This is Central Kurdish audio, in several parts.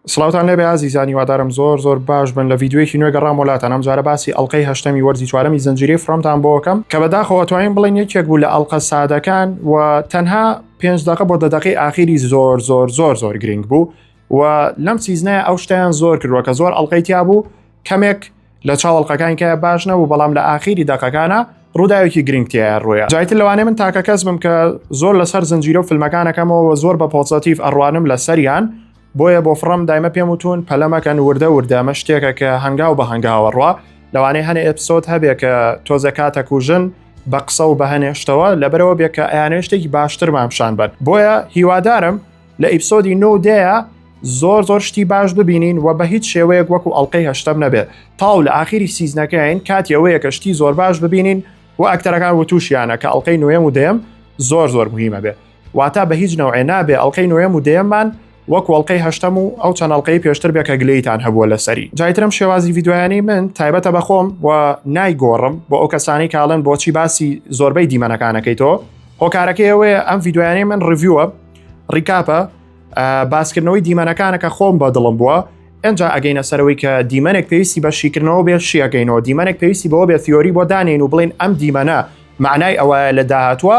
سڵاوتان لێبێ ئازیزان هیوادارم زۆر زۆر باش بن لە ڤیدیۆیەکی نوێ گەڕامەوە لاتان ئەمجارە باسی ئەڵقەی هەشتەمی وەرزی چوارەمی زنجیرەی فڕۆمتان بۆ ئەکەم کە بەداخەوە ئەتوانین بڵێن یەکێک بوو لە ئەڵقە سادەکان و تەنها پێنج دەقە بۆ دە دەقەی ئاخیری زۆر زۆر زۆر زۆر گرنگ بوو و لەم سیزنەیە ئەو شتیان زۆر کردووە کە زۆر ئەڵلقەی تیا بوو کەمێک لە چاوەڵقەکان کە باش نەبوو بەڵام لە ئاخیری دەقەکانە ڕووداوێکی گرنگتیە ڕوویە جایتر لەوانێ من تاکە کەس بم کە زۆر لەسەر زنجیرە و فیلمەکانەکەمەوە زۆر بە پۆزەتیف ئەڕوانم لە سەریان بۆیە بۆ فڕم دایمە پێم وتون پەلە مەکەن وردە وردە ئەمە شتێکە کە هەنگاو بە هەنگاوە ڕوا لەوانەیە هەنێ ئەپسۆد هەبێ کە تۆزێ کاتە کوژن بە قسە و بەهێنێشتەوە لەبەرەوە بێ کە ئەیانێ شتێکی باشترمان پیشان بەر بۆیە هیوادارم لە ئیپسۆدی نۆ دەیە زۆر زۆر شتی باش ببینین و بە هیچ شێوەیەک وەکو ئەڵلقەی هەشتم نەبێت تاو لە ئاخیری سیزنەکەین کاتی ئەوەیە کە شتی زۆر باش ببینین و ئەکتەرەکان وتوشیانە کە ئەڵلقەی نوێم و دێم زۆر زۆر مهمە بێت واتا بە هیچ نەوعێ نابێ ئەڵقەی نۆیەم و دەیەممان وەکو ئەڵلقەی هەشتەم و ئەو چەند ئەڵلقەی پێشتر بێ کە گلەیتان هەبووە لەسەری جایترم شێوازی ڤیددیویانی من تایبەتە بەخۆم و نایگۆڕم بۆ ئەو کەسانی کاڵن بۆچی باسی زۆربەی دیمەنەکانەکەی تۆ هۆکارەکەی ئەوەیە ئەم ڤیددیویانی من ڕڤوە ڕیکاپە باسکردنەوەی دیمەنەکانەکە خۆم بە دڵم بووە ئەجا ئەگەینە سەرەوەی کە دیمەنێک پێویستی بە شیکردنەوە بێت شیەکەینەوە دیمەنێک پێویستی بەوە بێت تیۆری بۆ دانین و بڵین ئەم دیمەە معنای ئەوەیە لە داهاتوە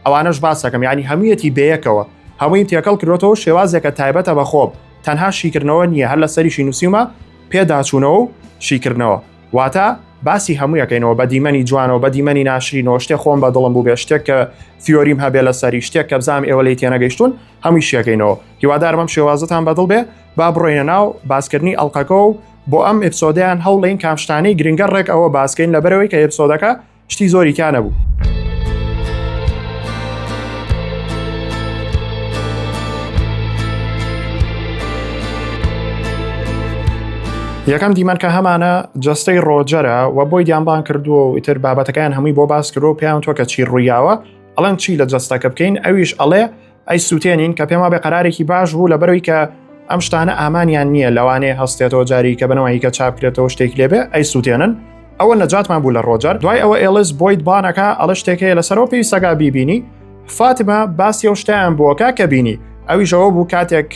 ئەوانەش باسەکەم ینی هەموویەتی بەیەکەوە هەمووی تێکەڵ کرۆتەوە شێوازێکە تایبەتە بە خۆب تەنها شیکردنەوە نییە هەر لە سەریشی نووسیمە پێداچوونەوە و شیکردنەوە واتە باسی هەموویەکەینەوە بە دیمەنی جوانەوە بە دیمەنی ناشرینەوە شتێک خۆم بە دڵم بوو بێ شتێک کە فیۆریم هەبێ لە سەری شتێک کە بزانام ئێوە لی تێنەگەیشتون هەمووی شیەکەینەوە هیوادارمەم شێوازتان بەدڵ بێ با بڕۆینە ناو باسکردنی ئەڵلقەکە و بۆ ئەم ئپسۆدەیان هەوڵین کامشتانی گرنگە ڕێک ئەوە باسکەین لە بەرەوەی کە ئپسۆدەکە شتی زۆری کانە بوو. یەکەم دیمەنکە هەمانە جستەی ڕۆجەرە و بۆی دیانبان کردووە و ئیتر بابەتەکەیان هەمووی بۆ باس کرۆ پێیان تۆکە چی ڕوویاوە ئەڵەن چی لە جستەکە بکەین ئەویش ئەڵێ ئەی سووتێنین کە پێم وابێ قەرارێکی باش بوو لە بەروی کە ئەم شتانە ئامانیان نییە لەوانەیە هەستێتەوە جاری کە بنەوەی کە چاپکرێتەوە شتێک لێبێ ئەی سووتێنن ئەوە نەجاتمان بوو لە ڕۆجەر دوای ئەوە ئێلس بۆیت بانەکە ئەڵە شتێکەیە لەسەرەوە پێی سەگا بیبینی فاتمە باسی ئەو شتیان بووەکە کە بینی ئەویشەوە بوو کاتێک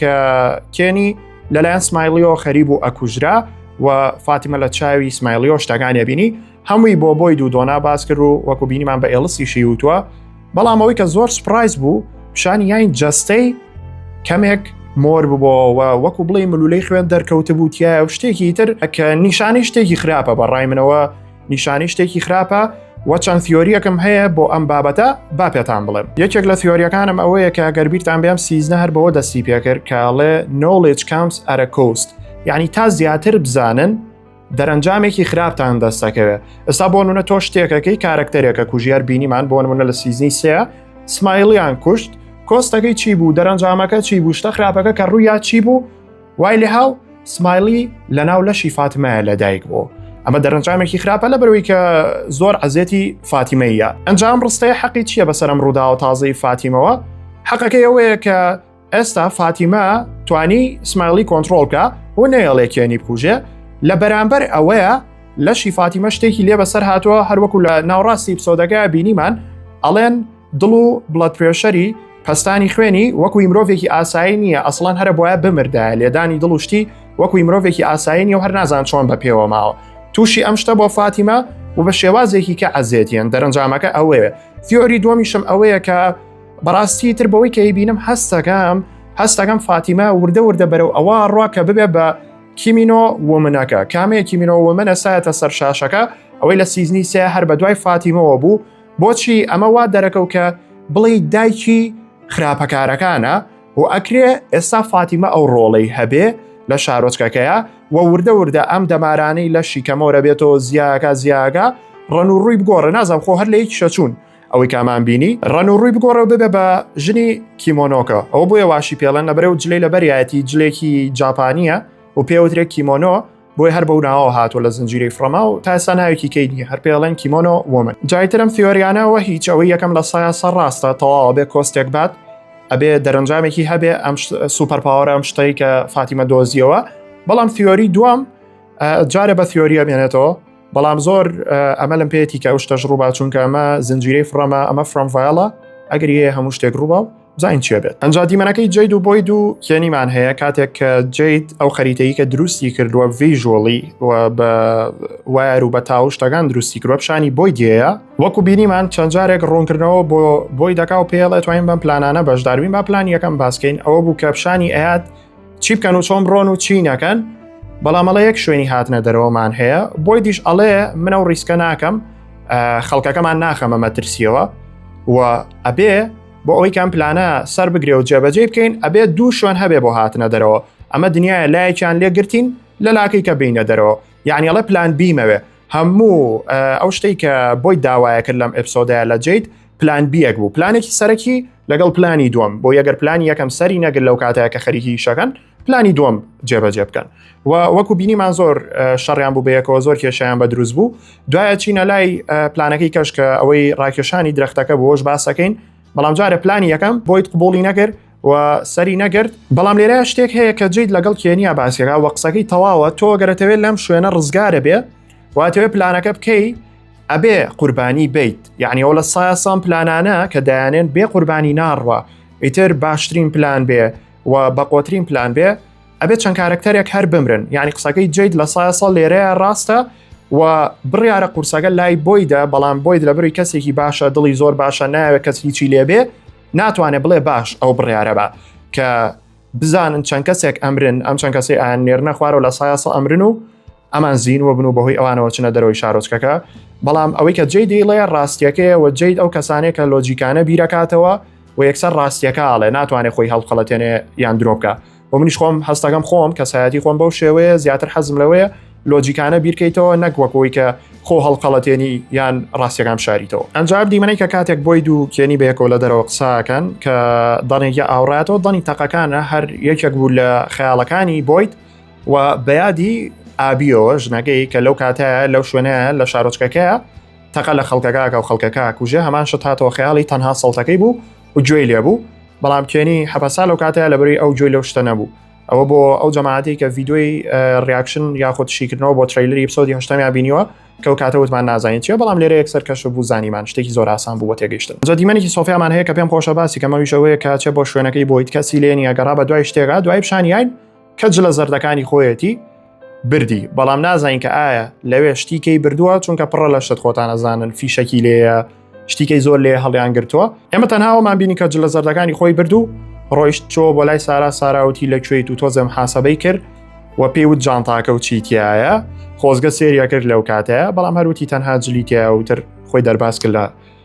کێنی لەلایەن سمایلیەوە خەری بوو ئەکوژرا و فاتیمە لە چاوی سمایلیۆ شتەکانیە بینی هەمووی بۆ بۆی دوو دۆنا باس کرد و وەکو بینیمان بە ئێڵسی شیوتووە بەڵام ئەوەی کە زۆر سپرایز بوو پیشانی یاین جەستەی کەمێک مۆر ببەوە وەکو بڵێ ملولەی خوێن دەرکەوت بوو تایە و شتێکی تر کە نیشانی شتێکی خراپە بە ڕای منەوە نیشانی شتێکی خراپە و چەند ثۆریەکەم هەیە بۆ ئەم بابەتە با پێتان بڵێم یەکێک لە ثۆریەکانم ئەوەیە کە گەربیرتان بێم سیزنە هەر بەوە دەستی پێکرد کاڵێ نۆڵێج کامس ئەرە کۆست یعنی تا زیاتر بزانن دەرەنجامێکی خراپتان دەستەکەوێت ئستا بۆ نونە تۆ شتێکەکەی کارکتەرێکە کوژیار بینیمان بۆ نمونە لە سیزنی سێ سمایلیان کوشت کۆستەکەی چی بوو دەرەنجامەکە چی بوو شتە خراپەکە کە ڕوویا چی بوو وای لە هاو سمایلی لە ناو لەشی فاتمایە لە دایک بوو ئەمە دەرەنجامێکی خراپە لە بەرەوەی کە زۆر عزیێتی فاتیمەیە ئەنجام ڕستەیە حەقی چییە بەسەرم ڕوودا و تازەی فاتیمەوە حەقەکەی ئەوەیە کە ئێستا فاتیمە توانی سمایلی کۆنتترۆلکە بۆ نەیەڵێ کێنی بکوژێ لە بەرامبەر ئەوەیە لە شیفاتیمە شتێکی لێ بەسەر هاتووە هەروەکو لە ناوڕاستی پسۆدەکە بینیمان ئەڵێن دڵ و بڵەت پرێشەری پستانی خوێنی وەکوی مرۆڤێکی ئاسایی نییە ئەسڵان هەرە بواە بمردایە لێدانی دڵ و شتی وەکوی مرۆڤێکی ئاسایی نیە و هەر نازان چۆن بە پێوە ماوە تووشی ئەم شتە بۆ فاتیمە و بە شێوازێکی کە ئەزێتیان دەرەنجامەکە ئەوەیە فیۆری دومیشم ئەوەیە کە بەڕاستی تر بەوەی کە بینم هەستەکەم هەستەکەم فاتیمە وردە وردە بەرەو ئەوە ڕوا کە ببێ بە کیمینۆ ومنەکە کامەیە کیمینۆ ومنە سایەتە سەر شاشەکە ئەوەی لە سیزنی سێ هەر بە دوای فاتیمەوە بوو بۆچی ئەمە وا دەرەکەو کە بڵی دایکی خراپەکارەکانە و ئەکرێ ئێستا فاتیمە ئەو ڕۆڵەی هەبێ لە شارۆچکەکەیە و وردە وردە ئەم دەمارانەی لە شیکەمەوە بێتەوە زیاکە زیاگە ڕەن و ڕووی بگۆڕە نازم خۆ هەر لە یەک شەچوون ئەوەی کامان بینی ڕەن و ڕووی بگۆڕەوە ببێ بە ژنی کیمۆنۆکە ئەوە بۆیە واشی پێڵەن لە بەرەو جلەی لە بەریایەتی جلێکی جاپانیە و پێوترێک کیمۆنۆ بۆی هەر بە ناوەوە هاتووە لە زنجیرەی فرەما و تاسا ناوێکی کەیدی هەر پێڵێن کیمۆنۆ ومن جایترم فیۆریانەوە هیچ ئەوەی یەکەم لە سایە سەر ڕاستە تەواوە بێ کۆستێک بات ئەبێ دەرەنجامێکی هەبێ ئەم سوپەرپاوەرە ئەم شتەی کە فاتیمە دۆزیەوە بەڵام فیۆری دوام جارە بە فیۆریە بێنێتەوە بەڵام زۆر ئەمە لەم پێێتی کە ئەو شتەش ڕووبا چونکە ئەمە زنجیرەی فڕەمە ئەمە فرۆمڤایڵە ئەگەر یە هەموو شتێک ڕووبا و زین چێ بێت ئەنج دیمەنەکەی جید و بۆی دوو کێنیمان هەیە کاتێک کە جیت ئەو خەریتەی کە دروستی کردووە ڤژۆڵی بە وایەر و بە تاو شتەکان دروستی کردوە پیشانی بۆی دێە وەکو بینیمان چەند جارێک ڕوونکردنەوە بۆ بۆی دەکا و پێڵێت توانین بەم پلانانە بەشداروین با پلان یەکەم باسکەین ئەوە بوو کە پیشانی ئەات چی بکەن و چۆن بڕۆن و چی نەکەن بەڵامەڵە یەک شوێنی هاتنە دەرەوەمان هەیە بۆی دیش ئەڵێ منە و ڕیسکە ناکەم خەڵکەکەمان ناخەمە مەترسیەوە و ئەبێ بۆ ئەوی کام پلانە سەر بگرێ و جێبەجێ بکەین ئەبێ دوو شوێن هەبێ بۆ هاتنە دەرەوە ئەمە دنیاە لایەکیان لێگرتین لە لاکەی کە بینە دەرەوە یعنیڵە پلان بیمەوێ هەموو ئەو شتەی کە بۆی داوایە کرد لەم ئەپسۆدای لە جیت پلان بیەک بوو پلانێکی سەرەکی لەگەڵ پلانی دووەم بۆ یەگەر پلانی یەکەم سەری نەگر لەو کاتەیە کە خەریکی شەکەن پلانی دووەم جێبەجێ بکەن و وەکو بینیمان زۆر شەڕیان بوو بەیەکەوە زۆر کێشیان بە دروست بوو دوایە چینە لای پلانەکەی کەشکە ئەوەی ڕاکێشانی درختەکە بۆش باسەکەین بەڵام جارە پلانی یەکەم بۆیت قوبولی نەکرد و سەری نەگرت بەڵام لێرە شتێک هەیە کە جیت لەگەڵ کێنیا باسیێرا وە قسەکەی تەواوە تۆ گەرەتەوێت لەم شوێنە ڕزگارە بێ واتەوێت پلانەکە بکەی ئەبێ قوربانی بیت یعنی ئەو لە سایە سام پلانانە کە دایانێن بێ قوربانی ناڕوە ئیتر باشترین پلان بێ و بەقۆترین پلان بێ ئەبێت چەند کارکتەرێک هەر بمرن یعنی قسەکەی جیت لە سایە ساڵ لێرەیە ڕاستە و بڕیارە قورسەکە لای بۆیدا بەڵام بۆیت لە بری کەسێکی باشە دڵی زۆر باشە ناوێت کەس هیچی لێبێ ناتوانێت بڵێ باش ئەو بڕیارە بە کە بزانن چەند کەسێک ئەمرن ئەم چەند کەسی ئایان نێرنە خوارەوە لە سایاسە ئەمرن و ئەمان زین و بن و بەهۆی ئەوانەوە چنە دەرەوەی شارۆچکەکە بەڵام ئەوەی کە جێ دیڵێ ڕاستیەکەیە و جیت ئەو کەسانێک کە لۆجیکانە بیرەکاتەوە و یەکسەر ڕاستیەکە ئاڵێ ناتوانێت خۆی هەڵخەڵەتێنێ یان درۆبکە و منیش خۆم هەستەکەم خۆم کەسایەتی خۆم بەو شێوەیە زیاتر حەزم لەوەیە لۆجیکانە بیرکەیتەوە نەک وەکەوەی کە خۆ هەڵقەڵەتێنی یان ڕاستەکان شاریتەوە ئەنجاب دیمەەی کە کاتێک بۆی دوو کێنی بەیەکەوە لە دەرەوە قساکەن کە دەنێکە ئاوڕاتەوە دەنی تەقەکانە هەر یەکێک بوو لە خەیاڵەکانی بۆیت و بەیادی ئابیەوە ژنەکەی کە لەو کاتەیە لەو شوێنەیە لە شارۆچکەکەیە تەقە لە خەڵکەکە کە و خەڵکەکە کوژێ هەمان شت هاتەوە خەیاڵی تەنها سەڵتەکەی بوو و گوێی لێ بوو بەڵام کێنی حەپەسا لەو کاتەیە لەبری ئەو گوێی لەو شتە نەبوو ئەوە بۆ ئەو جەماعاتی کە ڤیددیۆی ریاکشن یاخود شیکردنەوە بۆ تریلری پسۆدی هشتمیا بینیوە کە و کاتە وتمان نازانین چیە بەڵام لێرە یەکسەر کەش بوو زانیمان شتێکی زۆر ئاسان بوو بە تێگەیشتن جا دیمەنێکی سۆفیامان هەیە کە پێم خۆشە باسی کەمەویشەوەیە کە چێ بۆ شوێنەکەی بۆیت کەسی لێنی ئەگەڕا بە دوای شتێکا دوای پیشانیین کە جلە زەردەکانی خۆیەتی بردی بەڵام نازانین کە ئایا لەوێ شتیکەی بردووە چونکە پڕە لە شت خۆتان ئەزانن فیشەکی لێە شتیکەی زۆر لێ هەڵیان گرتووە ئێمە تەناوەمان بینی کە جلە زەردەکانی خۆی بردو ڕۆیشت چۆ بۆ لای سارا ساراوتی لە کوێیت و تۆزم حاسەبەی کرد و پێیوت جانتاکە و چیتیایە خۆزگە سێریە کرد لەو کاتەیە بەڵام هەروتی تەنها جلیتیایە وتر خۆی دەرباز کرد لە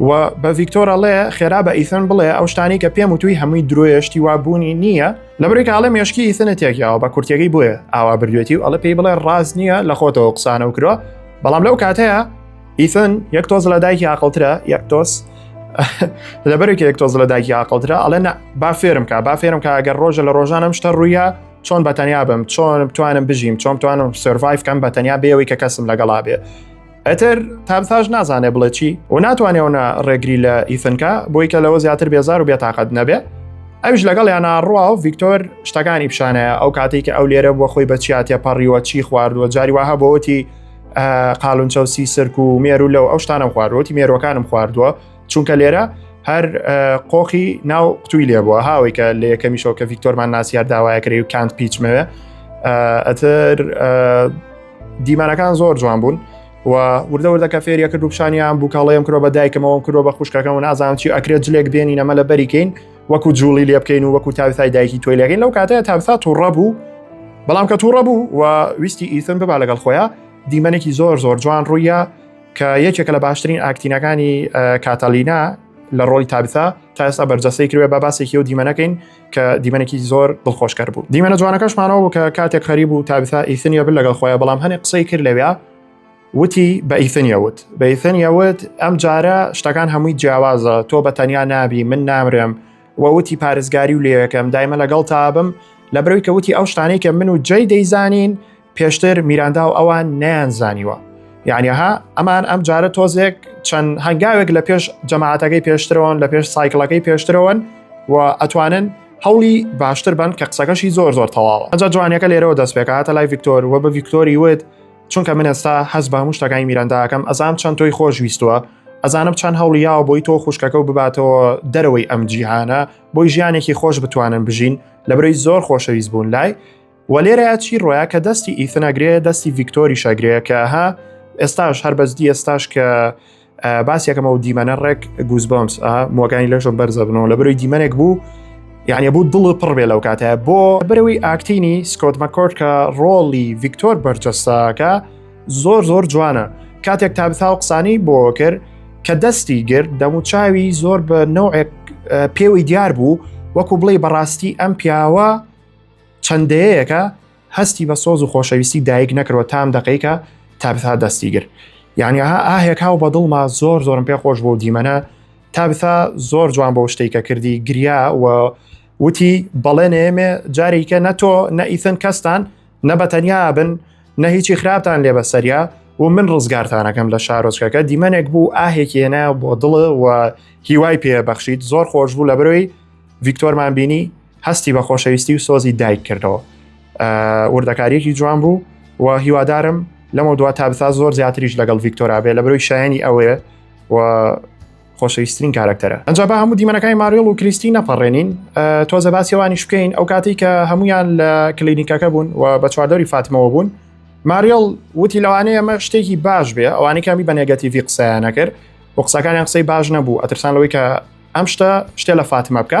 و بە ڤیکتۆر ئەڵێ خێرا بە ئیثن بڵێ ئەو شتانی کە پێم وتوی هەمووی درۆیە شتی وا بوونی نییە لە بریکە ئاڵێ مێشکی ئیثنە تێکیاوە بە کورتەکەی بۆیە ئاوا بردوێتی و ئەڵە پێی بڵێ ڕاست نییە لە خۆتەوە قسانە و کرۆ بەڵام لەو کاتەیە ئیثن یەک تۆز لە دایکی عقلترە یەک تۆس لەبەرێک یەک تۆز لە دایکی عقلترە ئەڵێ نە با فێرم کا با فێرم کا ئەگەر ڕۆژە لە ڕۆژانم شتە ڕوویە چۆن بەتەنیا بم چۆن بتوانم بژیم چۆن توانم سرڤایف کەم بەتەنیا بێەوەی کە کەسم لەگەڵا بێ ئەتر تامساش نازانێ بڵێ چی و ناتوانێونە ڕێگری لە ئیثنکە بۆی کە لەوە زیاتر بێزار و بێتاقەت نەبێ ئەوش لەگەڵ یانە ڕوا و ڤیکتۆر شتەکانی پیشانەیە ئەو کاتێک کە ئەو لێرە بووە خۆی بەچیاتە پەڕیوە چی خواردووە جاری وها بۆتی قالونچەوسی سرک و مێرو لەو ئەو شتانم خواردوەتی مێرۆکانم خواردووە چونکە لێرە هەر قۆخی ناو قوتووی لێ بووە هاوی کە لە یەکەمیشەوە کە ڤیکتۆرمان ناسیار داوایەکری و کانت پیچمەوێ ئەتر دیمانەکان زۆر جوان بوون و وردە وردە کە فێریە کرد و پیشانیان بوو کاڵەیەم کرۆ بە دایکمەوەم کرۆ بە خوشکەکەم و نازانم چی ئەکرێت جلێک بێنی نەمە لە بەریکەین وەکو جوڵی لێ بکەین و وەکو تاوسای دایکی تۆی لەگەین لەو کاتەیە تابسا تووڕە بوو بەڵام کە تووڕە بوو و ویستی ئیسن ببا لەگەڵ خۆیان دیمەنێکی زۆر زۆر جوان ڕوویە کە یەکێکە لە باشترین ئاکتینەکانی کاتەلینا لە ڕۆی تابسا تا ئێستا بەرجەسەی کروێ بە باسێکی و دیمەنەکەین کە دیمەنێکی زۆر دڵخۆشکەر بوو دیمەنە جوانەکەشمانەوە بوو کە کاتێک خەری بوو تابسا ئیسنیە بل لەگەڵ خۆیان بەڵام هەنێ قسەی کرد لەوێ وتی بە ئیسنیەوت بە ئیسنیەوت ئەم جارە شتەکان هەمووی جیاوازە تۆ بە تەنیا نابی من نامرم وەوتی پارێزگاری و لێەکەم دایمە لەگەڵ تابم لە برەوی کەوتی ئەو شتانەی کە من و جێ دەیزانین پێشتر میراندا و ئەوان نیان زانیوە یعنیها ئەمان ئەم جارە تۆزێک چەند هەنگاوێک لە پێش جەماعاتەکەی پێشترەوەن لە پێش سایکلەکەی پێشترەوەن و ئەتوانن هەوڵی باشتر بن کە قسەکەشی زۆر زۆر تەواوە ئەجا جوانەکە لێرەوە دەست پێکاتە لای ڤیکتۆر و بە ڤیکتۆری وت چونکە من ئێستا هەز بە هەمووشتەکانی میرانداکەم ئەزام چەند تۆی خۆش ویستووە ئەزانم چەند هەوڵیاوە بۆی تۆ خوشکەکە و بباتەوە دەرەوەی ئەم جیهانە بۆی ژیانێکی خۆش بتوانن بژین لە برۆی زۆر خۆشەویست بوون لای وە لێرەیا چی ڕۆیا کە دەستی ئیثناگرێ دەستی ڤیکتۆری شاگرەیە کە ها ئێستاش هەر بەزدی ئێستاش کە باسیەکەمە و دیمەنە ڕێک گوزبمس مۆگانی لەشم بەرزە بنەوە لە بەروی دیمەنێک بوو یعنی بوو دڵ پڕ بێ لەو کاتە بۆ بەرەوەی ئاکتینی سکۆت مەکۆرد کە ڕۆڵی ڤیکتۆر بەرجەستاکە زۆر زۆر جوانە کاتێک تا بسا و قسانی بۆ کرد کە دەستی گرت دەموچاوی زۆر بە نەوەک پێوەی دیار بوو وەکو بڵێ بەڕاستی ئەم پیاوە چەند دەیەیەکە هەستی بە سۆز و خۆشەویستی دایک نەکرەوە تام دەقیکە تابثا دەستی گر یعنی ها ئاهێک هاو بە دڵما زۆر زۆرم پێ خۆش بۆ دیمەنە تابثا زۆر جوان بۆ شتێکە کردی گریا و وتی بەڵێ نێمێ جارێکە نە تۆ نە ئیثن کەستان نە بە تەنیا بن نە هیچی خراپتان لێ بە سەریا و من ڕزگارتانەکەم لە شارۆچکەکە دیمەنێک بوو ئاهێکێنە بۆ دڵ و هیوای پێ بەخشیت زۆر خۆش بوو لە برۆی ڤیکتۆرمان بینی هەستی بە خۆشەویستی و سۆزی دایک کردەوە وردەکاریەکی جوان بوو و هیوادارم لەمە دو تا بسا زۆر زیاتریش لەگەڵ ڤیکتۆرابێ لە برۆی شایانی ئەوەیە و خۆشەویستترین کارکتەرە ئەجا بە هەموو دیمەنەکانی ماریڵ و کریستی نەپەڕێنین تۆزە باسیێوانیش بکەین ئەو کاتی کە هەمویان لە کلینیکەکە بوون و بە چواردەوری فاتمەوە بوون ماریڵ وتی لەوانەیە ئەمە شتێکی باش بێ ئەوانی کامی بە نێگەتیڤی قسەیانە کرد و قسەکانیان قسەی باش نەبوو ئەترسان لەوەی کە ئەم شتە شتێ لە فاتمە بکە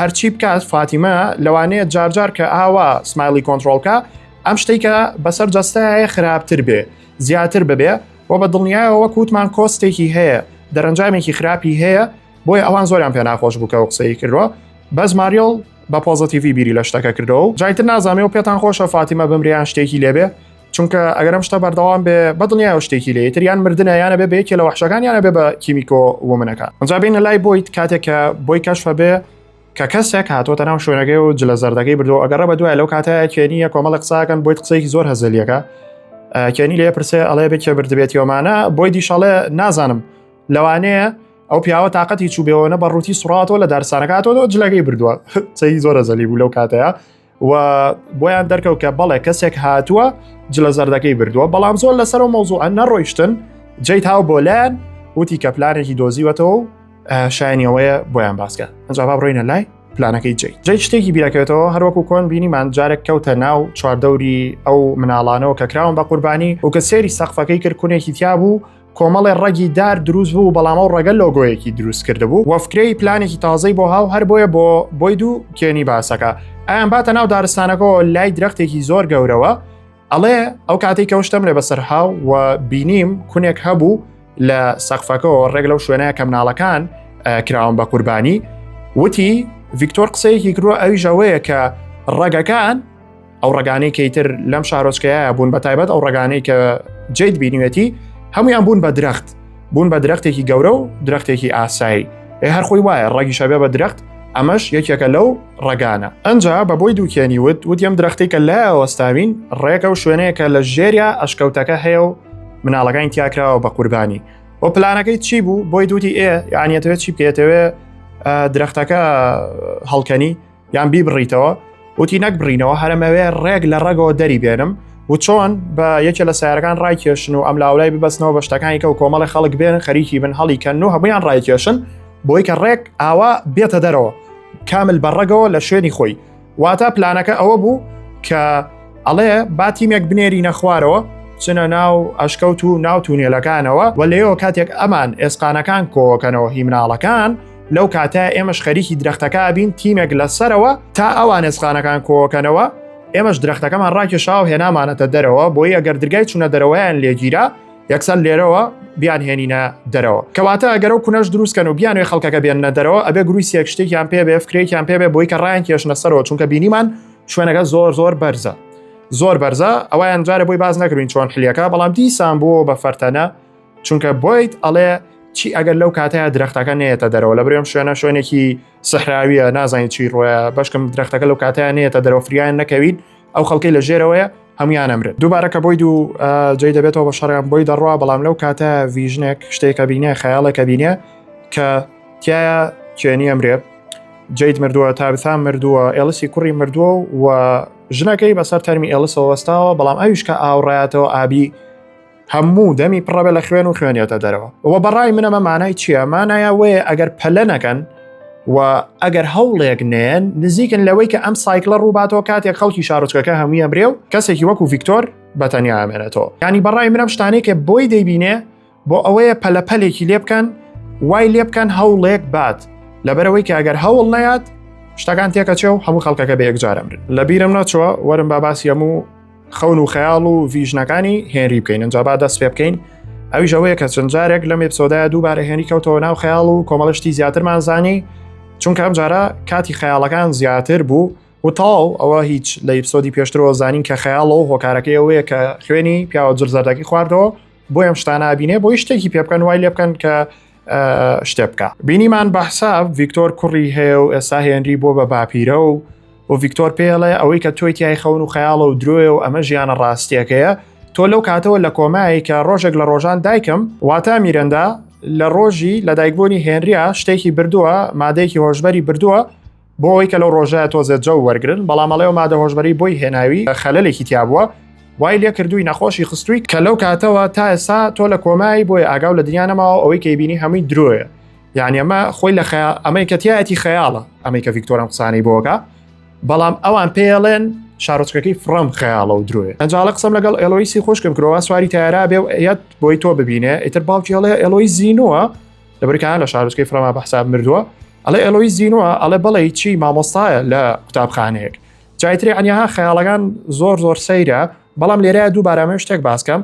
هەرچی بکات فاتیمە لەوانەیە جارجار کە ئاوا سمایلی کۆنتترۆلکە ئەم شتێک کە بەسەر جەستایە خراپتر بێ زیاتر ببێ و بە دڵنیایەوە وەک وتمان کۆستێکی هەیە دەرەنجامێکی خراپی هەیە بۆی ئەوان زۆریان پێ ناخۆش بووکە و قسەی کردوە بەس ماریۆڵ بە پۆزتیڤی بیری لە شتەکە کردەوە جایتر نازانێ و پێتان خۆشە فاتیمە بمریان شتێکی لێبێ چونکە ئەگەر ئەم شتە بەردەوام بێ بە دڵنیای شتێکی لێ تر یان مردنە یانە بێ بەیەکێ لە وحشەکان یانە بێ بە کیمیکۆ ومنەکە ئەجا بینە لای بۆیت کاتێک کە بۆی کەشفە بێ کە کەسێک هاتۆتە ناو شوێنەکەی و جلە زەردەکەی بردو ئەگەڕە بە دوای لەو کاتەیە کێنیە کۆمەڵە قساکەن بۆی قسەیەکی زۆر هەزلیەکە کێنی لێ پرسێ ئەڵێ بێ کێ بردبێتیەوەمانە بۆی دیشەڵێ نازانم لەوانەیە ئەو پیاوە تااقەتی چوبێەوەە بە ڕووتی سوڕاتەوە لە دارسانەکاتەوە جلەکەی بردووە قسەی زۆر زەلی بوو لەو کاتەیە و بۆیان دەرکەوت کە بەڵێ کەسێک هاتووە جلە زەردەکەی بردووە بەڵام زۆر لەسەر و مەوزوعە نەڕۆیشتن جێی تاو بۆ لایەن وتی کە پلانێکی دۆزیوەتەوە و شایانیەوەیە بۆیان باسکە ئەجا با بڕۆینە لای پلانەکەی جی جی شتێکی بیرەکەێتەوە هەروەکو کۆن بینیمان جارێک کەوتە ناو چواردەوری ئەو مناڵانەوە کە کراون بە قوربانی و کە سێری سەقفەکەی کردکونێکی تیا بوو کۆمەڵێ ڕەگی دار دروست بوو بەڵام ئەو ڕەگە لۆگۆیەکی دروست کرده بوو وەفکرەی پلانێکی تازەی بۆ هاو هەر بۆیە بۆ بۆی دوو کێنی باسەکە ئەیان باتە ناو دارستانەکەەوە لای درەختێکی زۆر گەورەوە ئەڵێ ئەو کاتێک کەوشتم لێ بەسەر هاو و بینیم کونێک هەبوو لە سەقفەکەەوە ڕێک لەو شوێنەیە کە مناڵەکان کراون بە قوربانی وتی ڤیکتۆر قسەیەکی کروە ئەوی ژەوەیە کە ڕەگەکان ئەو ڕگانەی کەیتر لەم شارۆچکەیە بوون بە تایبەت ئەو ڕگانەی کە جیت بینیوێتی هەمویان بوون بە درەخت بوون بە درەختێکی گەورە و درەختێکی ئاسایی ئێ هەرخۆی وایە ڕەگی شەبێ بە درەخت ئەمەش یەکێکە لەو ڕگانە ئەجا بە بۆی دووکێنی وت وتیم درەختی کە لە ئەوەستاوین ڕێکە و شوێنەیەکە لە ژێریا ئەشکەوتەکە هەیە و مناڵەکانی تیاکراوە بە قوربانی و پلانەکەی چی بوو بۆی دوتی ئێ یانەتەوێت چی بکێتەوێ درەختەکە هەڵکەنی یان بیبڕیتەوە وتی نەک بڕینەوە هەرمەوێ ڕێک لە ڕێگەوە دەری بێنم و چۆن بە یەکێ لە سیارەکان ڕایکێشن و ئەم لاولای ببەستنەوە بە شتەکانی کە و کۆمەڵی خەڵک بێن خەریکی بن هەڵی کەن و هەمویان ڕایکێشن بۆی کە ڕێک ئاوا بێتە دەرەوە کامل بەڕەگەوە لە شوێنی خۆی واتە پلانەکە ئەوە بوو کە ئەڵێ با تیمێک بنێری نەخوارەوە چنە ناو ئەشکەوت و ناو تونێلەکانەوە و لەەوە کاتێک ئەمان ئێسقانەکان کۆکەنەوە هیمناڵەکان لەو کاتە ئێمەش خەریکی درەختەکە بین تیمێک لە سەرەوە تا ئەوان ئێسخانەکان کۆکەنەوە ئێمەش درەختەکەمان ڕاکێشا و هێنامانەتە دەرەوە بۆی ئەگەر درگای چوونە دەرەوەیان لێگیرا یەکسەر لێرەوە بیان هێنینە دەرەوە کەواتە ئەگەر و کونەش دروستکەن و بیانێ خەڵکەکە بێنە دەرەوە ئەبێ گروی سێک شتێکیان پێ بێ فکرێکیان پێ بێ بۆی کە ڕایان کێشنە سەرەوە چونکە بینیمان شوێنەکە زۆر زۆر بەرزە زۆر بەرزە ئەویان جارە بۆی باز نەکردین چۆن حلیەکە بەڵام دیسان بووە بە فەرتەنە چونکە بۆیت ئەڵێ چی ئەگەر لەو کاتەیە درختەکە نێتە دەرەوە لە برێم شوێنە شوێنێکی سەحراویە نازانین چی ڕۆە بەشکم درختەکە لەو کاتیان نێتە دەرەوە فریان نەکەوین ئەو خەڵکی لە ژێرەوەیە هەمویان ئەمرێت دووبارە کە بۆی دوو جێ دەبێتەوە بە شەڕیان بۆی دەڕوا بەڵام لەو کاتە ڤژنێک شتێکە بینە خەیاڵێکە بینە کە تایە چێنی ئەمرێت جیت مردووە تا بسان مردووە ئێلسی کوڕی مردووە و ژنەکەی بەسەر تەرمی ئێلسەوە وەستاوە بەڵام ئەویشکە ئاوڕاتەوە ئابی هەموو دەمی پڕەبێ لە خوێن و خوێنیەتە دەرەوە ئەوە بەڕای منەمە مانای چییە مانایە وەیە ئەگەر پەلە نەکەن و ئەگەر هەوڵێک نێن نزیکن لەوەی کە ئەم سایکلە ڕووباتەوە کاتێک خەڵکی شارۆچکەکە هەمویە برێ و کەسێکی وەکو ڤیکتۆر بەتەنیا ئامێنێتەوە ینی بەڕای منم شتانێکە بۆی دەیبینێ بۆ ئەوەیە پەلەپەلێکی لێ بکەن وای لێ بکەن هەوڵێک بات لەبەرەوەی کە ئەگەر هەوڵ نەیات شتەکان تێکەچێ و هەموو خەڵکەکە بە یەکجارم لە بیرم نەچوە وەرم با باسی هەموو خەون و خەیاڵ و ڤژنەکانی هێنری بکەین ئەجا با دەست پێ بکەین ئەویش ئەوەیە کە چەند جارێک لەم ئپسۆدای دووبارە هێنی کەوتەوە ناو خەیاڵ و کۆمەڵشتی زیاترمان زانی چونکە ئەم جارە کاتی خەیاڵەکان زیاتر بوو و تاو ئەوە هیچ لە ئپسۆدی پێشترەوە زانین کە خەیاڵەوە هۆکارەکەی ئەوەیە کە خوێنی پیاوە جرزەردەکی خواردەوە بۆ ئەم شتانە بینێ بۆی شتێکی پێ بکەن وای لێ بکەن کە شتێ بکە بینیمان بەحسا ڤیکتۆر کوڕی هەیە و ئێستا هێنری بۆ بە باپیرە و و ڤیکتۆر پێڵێ ئەوەی کە تۆی تای خەون و خەیاڵە و درۆێ و ئەمە ژیانە ڕاستیەکەیە تۆ لەو کاتەوە لە کۆمایی کە ڕۆژێک لە ڕۆژان دایکم واتا میرەندا لە ڕۆژی لە دایکبوونی هێنریا شتێکی بردووە مادەیەکی هۆشببەری بردووە بۆ ئەوەی کە لەو ڕۆژە تۆزێ جەو وەرگرن، بەڵام ئەڵێ ئەو مادە هۆشبەرەی بۆی هێناوی خەلەلێکی تیابووە، وای لێ کردووی نەخۆشی خستووی کە لەو کاتەوە تا ئێستا تۆ لە کۆمای بۆیە ئاگاو لە دنیا نەماوە ئەوەی کەی بینی هەمووی درۆیە یعنی ئەمە خۆی لە خەیا ئەمەی کە تایەتی خەیاڵە ئەمەی کە ڤیکتۆرم قسانەی بۆگە بەڵام ئەوان پێڵێن شارۆچکەکەی فڕم خەیاڵە و درۆێ ئەنجاڵە قسەم لەگەڵ ئەلۆیسی خۆشکم کرەوە سواری تارا بێ یاد بۆی تۆ ببینێ ئیتر باوکیڵێ ئەلۆی زینوە لەبرکان لە شارۆچکەی فرەما بە حساب مردووە ئەڵێ ئەلۆی زیینوە ئەڵێ بەڵێ چی مامۆستایە لە قوتابخانەیەک جایتری ئەنیها خەیاڵەکان زۆر زۆر سەیرە بەڵام لێرە دوو بارامێ شتێک باسکەم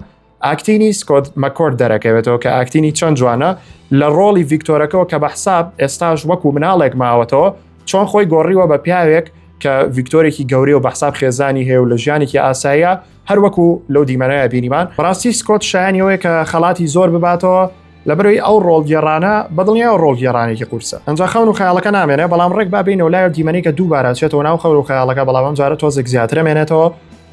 ئاکتینی سکۆت مەکۆرد دەرەکەوێتەوە کە ئاکتینی چەند جوانە لە ڕۆڵی ڤیکتۆرەکەەوە کە بە حساب ئێستاش وەکو مناڵێک ماوەتەوە چۆن خۆی گۆڕیوە بە پیاوێک کە ڤیکتۆرێکی گەورەی و بەحساب خێزانی هەیە و لە ژیانێکی ئاساییە هەروەکو لەو دیمەنەیە بینیمان ڕاستی سکۆت شایانیەوەی کە خەڵاتی زۆر بباتەوە لەبەرەی ئەو ڕۆڵگێڕانە بەدڵنیایەوە ڕۆڵگێڕانێکی قورسە ئەنجا خەون و خەیاڵەکە نامێنێ بەڵام ڕێک با بینەوە لایەو دیمەنەی کە دووبارە چێتەوە ناو خەور و خەیاڵەکە بەڵام ئەم جارە تۆزێک زیاترە مێنێتەوە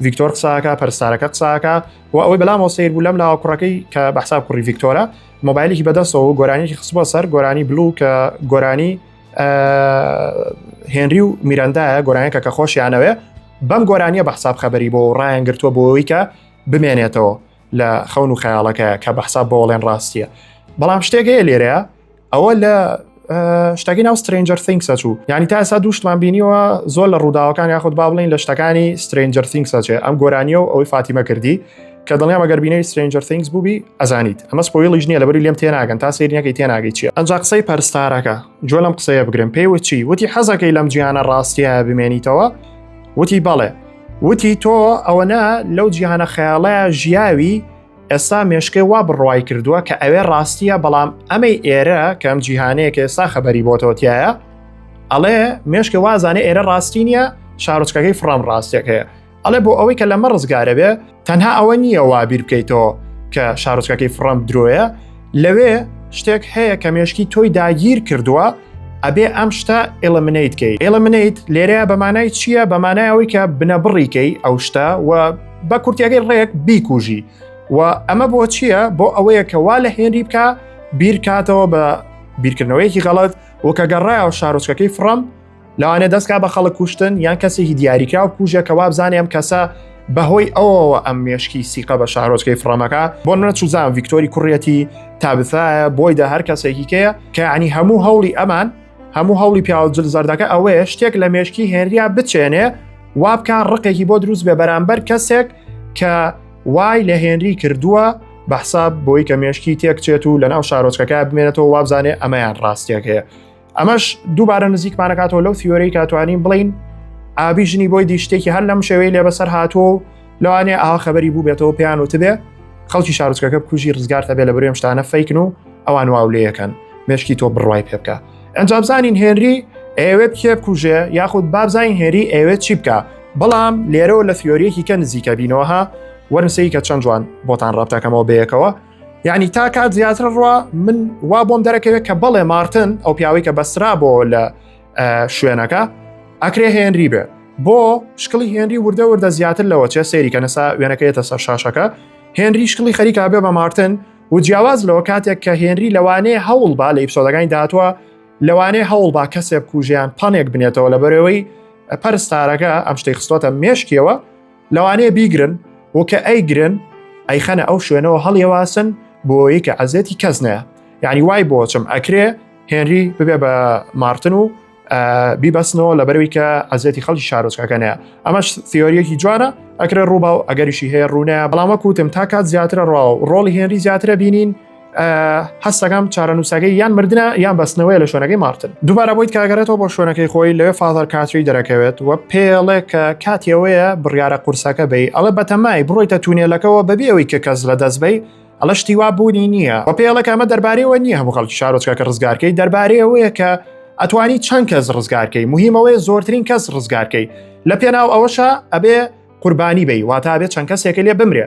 ڤیکتۆر قساکە پەرستارەکە قساکە و ئەوەی بەلامەوە سیر بوو لەم لاوە کوڕەکەی کە بەحساب کوڕی ڤیکتۆرە مۆبایلێکی بەدەستەوە و گۆرانیکی خستبووە سەر گۆرانی بلو کە گۆرانی هێنری و میرەندایە گۆرانەکە کە خۆشیانەوێ بەم گۆرانیە بە حساب خەبەری بۆ ڕایان گرتووە بۆەوەی کە بمێنێتەوە لە خەون و خەیاڵەکە کە بە حساب بۆڵێن ڕاستیە بەڵام شتێک هەیە لێرەیە ئەوە لە شتەکەی ناو سترنجەر ثینگسە چوو ینی تا ئسا دووشتمان بینیەوە زۆر لە ڕووداوەکان یاخود با بڵین لە شتەکانی سترنجەر ثینگسەچێ ئەم گۆرانیە و ئەوەی فاتیمە کردی کە دڵنیا مەگەر بینەری سترنجەر ثینگس بووبی ئەزانیت ئەمە سپۆیڵیش نیە لەبەری لێم تێناگەن تا سریەکەی تێناگەی چیە ئەنج قسەی پەرستارەکە جۆ لەم قسەیە بگرم پێی وچی وتی حەزەکەی لەم جیانە ڕاستیە بمێنیتەوە وتی بەڵێ وتی تۆ ئەوەنە لەو جیهانە خەیاڵەیە ژیاوی ئێستا مێشکەی وا بڕوای کردووە کە ئەوێ ڕاستیە بەڵام ئەمەی ئێرە کەم جیهانەیە کە ئێستا خەبەری بۆتەوەتیایە ئەڵێ مێشکە وازانێ ئێرە ڕاستی نیە شارۆچکەکەی فڕام ڕاستێک هەیە ئەڵێ بۆ ئەوەی کە لەمە ڕزگارە بێ تەنها ئەوە نییە وا بیر بکەیتەوە کە شارۆچکەکەی فڕەم درۆیە لەوێ شتێک هەیە کە مێشکی تۆی داگیر کردووە ئەبێ ئەم شتە ئێلمنیت کەی ئێلمنیت لێرەیە بەمانای چییە بەمانایەوەی کە بنەبڕیکەی ئەو شتە و بە کورتیەکەی ڕێک بیکوژی و ئەمە بۆ چییە بۆ ئەوەیە کە وا لە هێنری بکە بیرکاتەوە بە بیرکردنەوەیەکی غەڵت و کە گەڕایەوە شارۆچکەکەی فڕەم لەوانێ دەستکا بە خەڵک کوشتن یان کەسێکی دیاریکراو کوژە کە وابزانێ ئەم کەسە بەهۆی ئەوەوە ئەم مێشکی سیقە بە شارۆچکەی فڕەمەکە بۆ منە چوزان ڤیکتۆری کوڕەتی تابثایە بۆی دە هەر کەسێکی کەیە کە عنی هەموو هەوڵی ئەمان هەموو هەوڵی پیاوجل زەردەکە ئەوەیە شتێک لە مێشکی هێنریا بچێنێ وابکە ڕقێکی بۆ دروست بێ بەرامبەر کەسێک کە وای لە هێنری کردووە بەحساب بۆی کە مێشکی تێکچێت و لەناو شارۆچکەکە بمێنێتەوە وابزانێ ئەمەیان ڕاستیەکەیە ئەمەش دووبارە نزیکمانەکاتەوە لەو فیۆرەی کاتوانین بڵین ئابی ژنی بۆی دیشتێکی هەر لەم شێوەی لێ بەسەر هاتووە و لەوانێ ئاوا خەبەری بوو بێتەوە پێیان وتبێ خەڵکی شارچکەکە بکوژی ڕزگارتە بێ لە برێم شتانە فیکن و ئەوان واولەیەکەن مشکی تۆ بڕای پێ بکە ئەنجام بزانین هێنری ئەوێت کێ بکوژێ یاخود بابزانین هێری ئەوێت چی بکە بەڵام لێرەوە لە فیۆریەکی کە نزیکە بینەوەها وەرنسەی کە چەند جوان بۆتان ڕابتەکەمەوە بەیەکەوە یعنی تا کات زیاتر ڕوا من وا بۆم دەرەکەوێت کە بەڵێ مارتن ئەو پیاوی کە بەسرا بۆ لە شوێنەکە ئەکرێ هێنری بێ بۆ شکڵی هێنری وردە وردە زیاتر لەوە چێ سێری کە نەسا وێنەکەیەتە سەر شاشەکە هێنری شکڵی خەریکا بێ بە مارتن و جیاواز لەوە کاتێک کە هێنری لەوانەیە هەوڵ با لە ئیپسۆدەکانی داهاتوە لەوانەیە هەوڵ با کەسێک کوژیان پانێک بنێتەوە لە بەرەوەی پەرستارەکە ئەم شتەی خستۆتە مێشکیەوە لەوانەیە بیگرن و کە ئەیگرن ئەیخەنە ئەو شوێنەوە هەڵیەواسن بۆیە کە عزێتی کەس نەیە یعنی وای بۆچم ئەکرێ هێنری ببێ بە مارتن و بیبەستنەوە لە بەروی کە عزێتی خەڵکی شارۆچکەکەنەیە ئەمەش سیۆریەکی جوانە ئەکرێ ڕووبا و ئەگەریشی هەیە ڕوونە بەڵام وەکوتم تا کات زیاترە ڕاو ڕۆڵی هێنری زیاترە بینین هەستەکەم چارەنووسەکەی یان مردە یان بەستنەوەی لە شوێنەکەی مارتن دووبارە بۆیت کاگەرێتەوە بۆ شوێنەکەی خۆی لەوێ فازەر کاتری دەرەکەوێت و پێڵێ کە کاتیەوەیە بڕیارە قورسەکە بی ئەڵە بەتەمای بڕۆیتە تونێلەکەەوە بەبێ ئەوی کە کەس لە دەست بی ئەڵە شتیوا بوونی نییە و پێڵەکە ئەمە دەربارەوە نییە هەموو خەڵکی شارۆچکە کە ڕزگارکەی دەربارەیەوەیە کە ئەتوانی چەند کەس ڕزگارکەی مهمەوەی زۆرترین کەس ڕزگارکەی لە پێناو ئەوەشە ئەبێ قوربانی بی واتا بێت چەند کەسێکە لێ بمرێ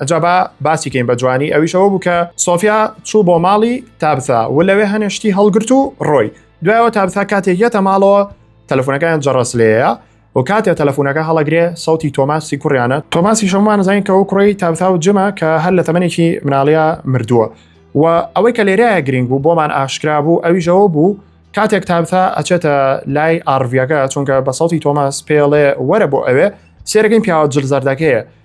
ئەجا با باسی کەین بە جوانی ئەویشەوە بوو کە سۆفیا چوو بۆ ماڵی تابسا و لەوێ هەنێشتی هەڵگرت و ڕۆی دوایەوە تابسا کاتێک یەتە ماڵەوە تەلەفۆنەکەیان جەڕەس لێەیە و کاتێ تەلەفۆنەکە هەڵەگرێ سەوتی تۆماسی کوڕیانە تۆماسی شەمان زانین کە ئەو کوڕی تابسا و جمە کە هەر لە تەمەێکی مناڵیا مردووە و ئەوەی کە لێرایە گرنگ بوو بۆمان ئاشکرا بوو ئەویشەوە بوو کاتێک تابتا ئەچێتە لای ئارڤەکە چونکە بە سەوتی تۆماس پێڵێ وەرە بۆ ئەوێ سێرەکەین پیاوە جل زەردەکەیە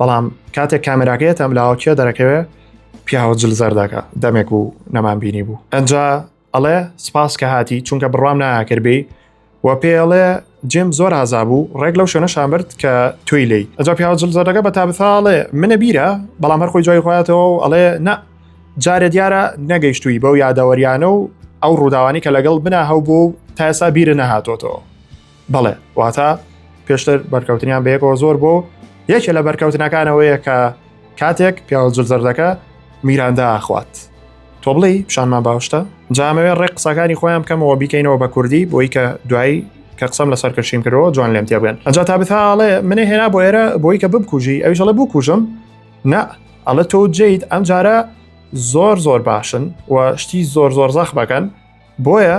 بەڵام کاتێک کامێراکەیەت ئەم لاوەکیە دەرەکەوێ پیاوە جل زەردەکە دەمێک و نەمان بینی بوو ئەجا ئەڵێ سپاس کە هاتی چونکە بڕام ناکردبی و پێڵێ جێم زۆر ئازا بوو ڕێک لەو شوێنە شامبرد کە توی لی ئەجا پیاوە جل زەردەکە بە تابثاڵێ منە بیرە بەڵام هەرخۆی جای خۆاتەوە و ئەڵێ نە جارێ دیارە نەگەیشتووی بەو یادەوەریانە و ئەو ڕووداوانی کە لەگەڵ بنا هەو بوو تاسا بیرە نەهاتۆتەوە بەڵێ واتە پێشتر بەرکەوتنیان بەیەکەوە زۆر بۆ یەکێ لە بەرکەوتنەکانەوەیە کە کاتێک پیاوە جرزەردەکە میراندا ئاخوات تۆ بڵێ پیشانمان باوشتە جامەوێ ڕێک قسەکانی خۆیان بکەمەوە بیکەینەوە بە کوردی بۆی کە دوایی کە قسەم لە سەرکەشیم کرەوە جوان لێم تێبێن ئەجا تا بتاڵێ منێ هێنا بۆ ئێرە بۆی کە ببکوژی ئەویش ئەڵێ بکوژم نا ئەڵە تۆ جیت ئەم جارە زۆر زۆر باشن و شتی زۆر زۆر زەخ بەکەن بۆیە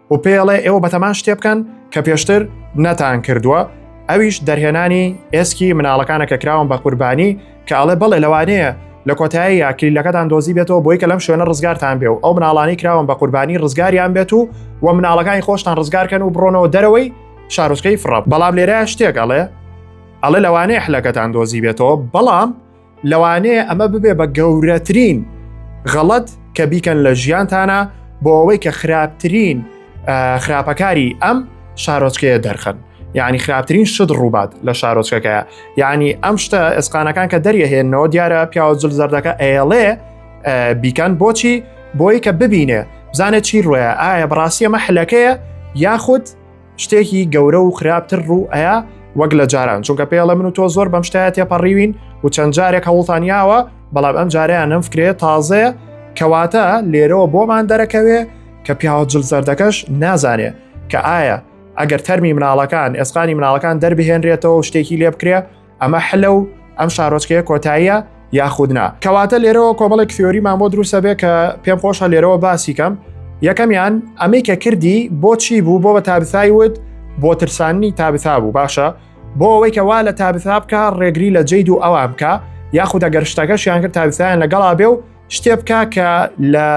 و پێڵێ ئێوە بەتەمان شتێ بکەن کە پێشتر نەتان کردووە ئەویش دەرهێنانی ئێسکی مناڵەکانە کە کراون بە قوربانی کە ئەڵێ بەڵێ لەوانەیە لە کۆتایی یاکلیلەکەتان دۆزی بێتەوە بۆی کە لەم شوێنە ڕزگارتان بێ و ئەو مناڵانی کراون بە قوربانی ڕزگاریان بێت و و مناڵەکانی خۆشتان ڕزگارکەن و بڕۆنەوە دەرەوەی شارۆچکەی فڕە بەڵام لێرە شتێک ئەڵێ ئەڵێ لەوانەیە حلەکەتان دۆزی بێتەوە بەڵام لەوانەیە ئەمە ببێ بە گەورەترین غەڵەت کە بیکەن لە ژیانتانە بۆ ئەوەی کە خراپترین خراپەکاری ئەم شارۆچکەیە دەرخن یعنی خراپترین شت ڕووبات لە شارۆچکەکەیە یعنی ئەم شتە ئێسقانەکان کە دەریەهێنەوە دیارە پیاوە جل زەردەکە ئەیڵێ بیکەن بۆچی بۆی کە ببینێ بزانێت چی ڕوێە ئایا بڕاستیە مەحلەکەیە یاخود شتێکی گەورە و خراپتر ڕوو ئەیە وەک لە جاران چونکە پێڵە من و تۆ زۆر بەم شتایە تێپەڕیوین و چەند جارێک هەوڵتانیاوە بەڵام ئەم جاریان نەم فکرێت تازەیە کەواتە لێرەوە بۆمان دەرەکەوێ کە پیاوە جل زەردەکەش نازانێ کە ئایا ئەگەر تەرمی مناڵەکان ئێسقانی مناڵەکان دەربهێنرێتەوە شتێکی لێ بکرێ ئەمە حلە و ئەم شارۆچکەیە کۆتاییە یاخودنا کەواتە لێرەوە کۆمەڵێک فیۆریمان بۆ دروستە بێ کە پێم خۆشە لێرەوە باسی کەم یەکەمیان ئەمەی کە کردی بۆچی بوو بۆ بە تابسای وت بۆ ترسانی تابسا بوو باشە بۆ ئەوەی کەوا لە تابسا بکە ڕێگری لە جید و ئەوان بکە یاخود ئەگەر شتەکەشیان کرد تابسایان لەگەڵا بێ و شتێ بکە کە لە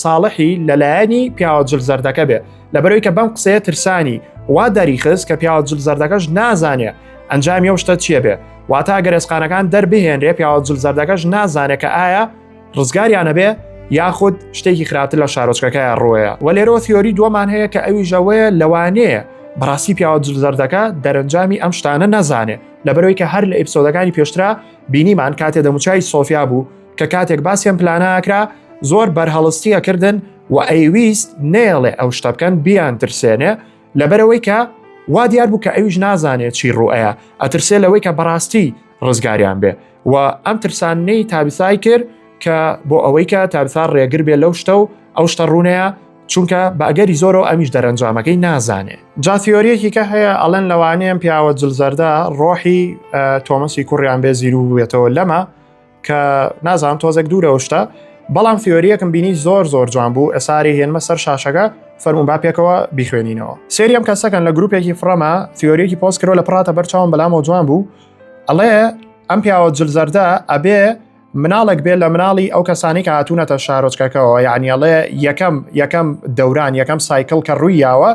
ساڵحی لەلایەنی پیاوە جل زەردەکە بێ لەبەرەوەی کە بەم قسەیە ترسانی وا دەریخست کە پیاوە جل زەردەکەش نازانێ ئەنجامی ئەو شتە چیە بێ واتا گەرێسقانەکان دەربهێنرێ پیاوە جل زەردەکەش نازانێت کە ئایا ڕزگاریانە بێ یاخود شتێکی خراپتر لە شارۆچکەکە ڕۆیە و لێرۆ تیۆری دووەمان هەیە کە ئەوی ژەوەیە لەوانەیە بەڕاستی پیاوە جلزەردەکە دەرەنجامی ئەم شتانە نەزانێ لەبەرەوەی کە هەر لە ئیپسۆدەکانی پێشترا بینیمان کاتێ دەموچای سۆفیا بوو کە کاتێک باسیان پلانە ئەکرا زۆر بەرهەڵستی ئەکردن و ئەیویست نێڵێ ئەو شتە بکەن بیان ترسێنێ لەبەرەوەی کە وا دیار بوو کە ئەویش نازانێت چی ڕوئەیە ئەترسێ لەوەی کە بەڕاستی ڕزگاریان بێ و ئەم ترسانەی تابیسای کرد کە بۆ ئەوەی کە تابسا ڕێگر بێ لەو شتە و ئەو شتە ڕوونەیە چونکە بەگەری زۆرەوە ئەمیش دەرەنجامەکەی نازانێ جاتیۆریەکی کە هەیە ئەلەن لەوانەیەم پیاوە جلزەردە ڕۆحی تۆمەسی کوڕیان بێ زیرو بێتەوە لەمە کە نازان تۆزێک دوورەوە شتە بەڵام فیۆریەکم بینی زۆر زۆر جوان بوو ئەساری هێنمە سەر شاشەکە فەرمون با پێکەوە بیخوێنینەوە سریەم کەسەکەن لە گروپێکی فڕەما فیۆریەکی پۆست کرۆ لە پراتە بەرچاوم بەلامەوە جوان بوو ئەڵێ ئەم پیاوە جلزەردە ئەبێ مناڵێک بێ لە مناڵی ئەو کەسانی کە هاتوونەتە شارۆچکەکەەوە یعنیڵێ یەکەم یەکەم دەوران یەکەم سایکل کە ڕووی یاوە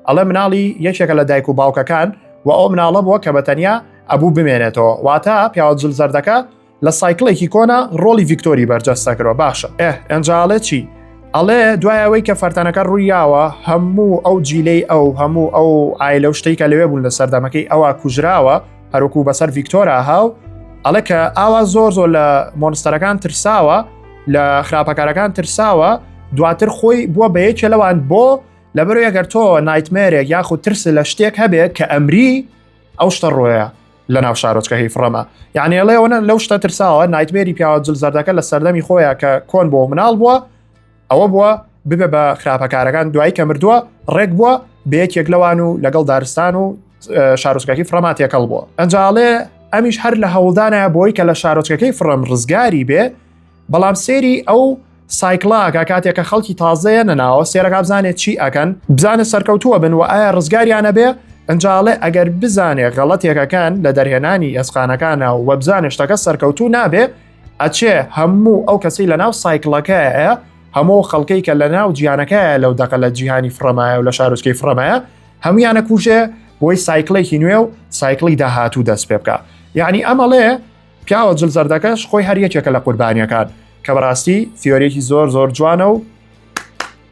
ئەڵێ مناڵی یەکێکە لە دایک و باوکەکان و ئەو مناڵە بووە کە بەتەنیا ئەبوو بمێنێتەوە واتە پیاوە جل زەردەکە لە سایکلێکی کۆنا ڕۆلی ڤیکتۆری بەرجەستە کرەوە باشە ئێ ئەنجاڵێ چی ئەڵێ دوایەوەی کە فەرتەنەکە ڕوویاوە هەموو ئەو جیلەی ئەو هەموو ئەو ئایلە و شتێکە لەوێ بوون لە سەردەمەکەی ئەوە کوژراوە هەروکو بەسەر ڤیکتۆرا هاو ئەڵێ کە ئاوا زۆر زۆر لە مۆنستەرەکان ترساوە لە خراپەکارەکان ترساوە دواتر خۆی بووە بە یەکێ لەوان بۆ لەبەر ئەگەر تۆ نایتمێرێک یاخود ترس لە شتێک هەبێت کە ئەمری ئەو شتە ڕۆیە لە ناو شارۆچکە هی فڕەمە یعنی ئەڵێەوەە لەو شتە ترساوە نایتمێری پیاوە جل زەردەکە لە سەردەمی خۆیە کە کۆن بۆ مناڵ بووە ئەوە بووە ببێ بە خراپەکارەکان دوایی کە مردووە ڕێک بووە بەیەکێک لەوان و لەگەڵ دارستان و شارۆچکەکی فڕەما تێکەڵ بووە ئەنجاڵێ ئەمیش هەر لە هەوڵدانە بۆی کە لە شارۆچکەکەی فڕم ڕزگاری بێ بەڵام سێری ئەو سایکلاکە کاتێکە خەڵکی تازەیە نەناوە سێرەکە بزانێت چی ئەکەن بزانە سەرکەوتووە بن و ئایا ڕزگاریانە بێ ئەنجاڵێ ئەگەر بزانێ غەڵەتێکەکان لە دەرهێنانی ئەسقانەکانە و وەبزانە شتەکە سەرکەوتوو نابێ ئەچێ هەموو ئەو کەسی لە ناو سایکلەکەیە هەموو خەڵکەی کە لە ناو جیانەکەیە لەو دەقە لە جیهانی فرەمایە و لە شارۆچکەی فرەمایە هەمویانە کوژێ بۆی سایکلێکی نوێ و سایکلی داهاتوو دەست پێ بکە یعنی ئەمەڵێ پیاوە جل زەردەکەش خۆی هەر یەکێکە لە قوربانیەکان کە بەڕاستی ثیۆریەکی زۆر زۆر جوانە و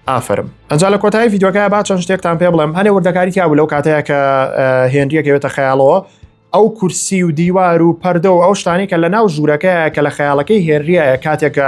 ئافرم ئەجا لە کۆتایی یددیوەکە با چەند شتێکتان پێ بڵێم هەنێ وردەکاری تیا بوو لەو کاتەیە کە هێنریەکەوێتە خەیاڵەوە ئەو کورسی و دیوار و پەردە و ئەو شتانی کە لە ناو ژوورەکەیە کە لە خەیاڵەکەی هێنریایە کاتێکە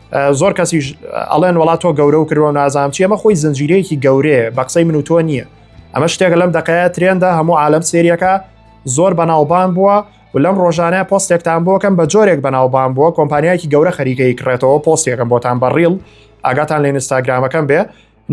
زۆر کەسیش ئەڵێن وڵات تۆ گەورە و کردوە نازام چی ئەمە خۆی زنجیرەیەکی گەورێ بە قسەی من و تۆ نییە ئەمە شتێک لەم دقەیە ترێندا هەموو عالم سریەکە زۆر بەناوبان بووە و لەم ڕۆژانە پۆستێکتان بۆکەم بە جۆرێک بەناوبان بووە کۆمپانیایکی گەورە خەریکەی کڕێتەوە پۆستێکم بۆتان بەڕیڵ ئاگاتان لە ئینستاگرامەکەم بێ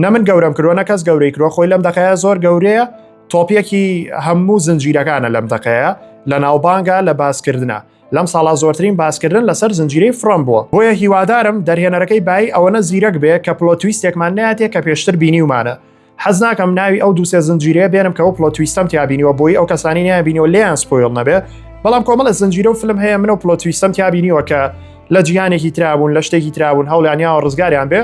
نە من گەورەم کردوە نە کەس گەورەی کرۆ خۆی لەم دەقەیە زۆر گەورەیە تۆپیەکی هەموو زنجیرەکانە لەم دەقەیە لە ناوبانگە لە باسکردە لەم ساڵا زۆرترین باسکردن لەسەر زنجیرەی فرۆم بووە بۆیە هیوادارم دەرهێنەرەکەی بای ئەوەنە زیرەک بێ کە پلۆتویستێکمان ناتێ کە پێشتر بینیومانە حەز ناکەم ناوی ئەو دووسێ زنجیرەیە بێنم کە ئەو پلۆتویستم تیابینیوە بۆی ئەو کەسانی نیابینەوە لێیان سپۆیل نەبێ بەڵام کۆمەڵە زنجیرە و فلم هەیە منەوە پلۆتویستم تیابینیوە کە لە جیهانێکی ترابوون لە شتێکی ترابوون هەوڵیانیاوە ڕزگاریان بێ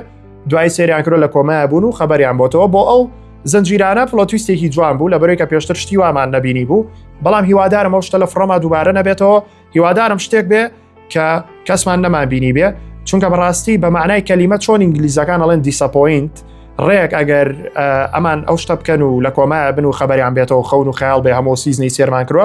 دوای سریان کرۆ لە کۆمای بوون و خەبەریان بۆتەوە بۆ ئەو زنجیرانە پڵۆتویستێکی جوان بوو لە بەرەوەی کە پێشتر شتی وامان نەبینی بوو بەڵام هیوادارم ئەو شتە لە فڕۆما دووبارە نەبێتەوە هیوادارم شتێک بێ کە کەسمان نەمان بینی بێ چونکە بەڕاستی بە معنای کەلیمە چۆن ئینگلیزەکان ئەڵێن دیسەپۆینت ڕێک ئەگەر ئەمان ئەو شتە بکەن و لە کۆمای بن و خەبەریان بێتەوە خەون و خیال بێ هەمۆ سیزنی سێرمان کرۆ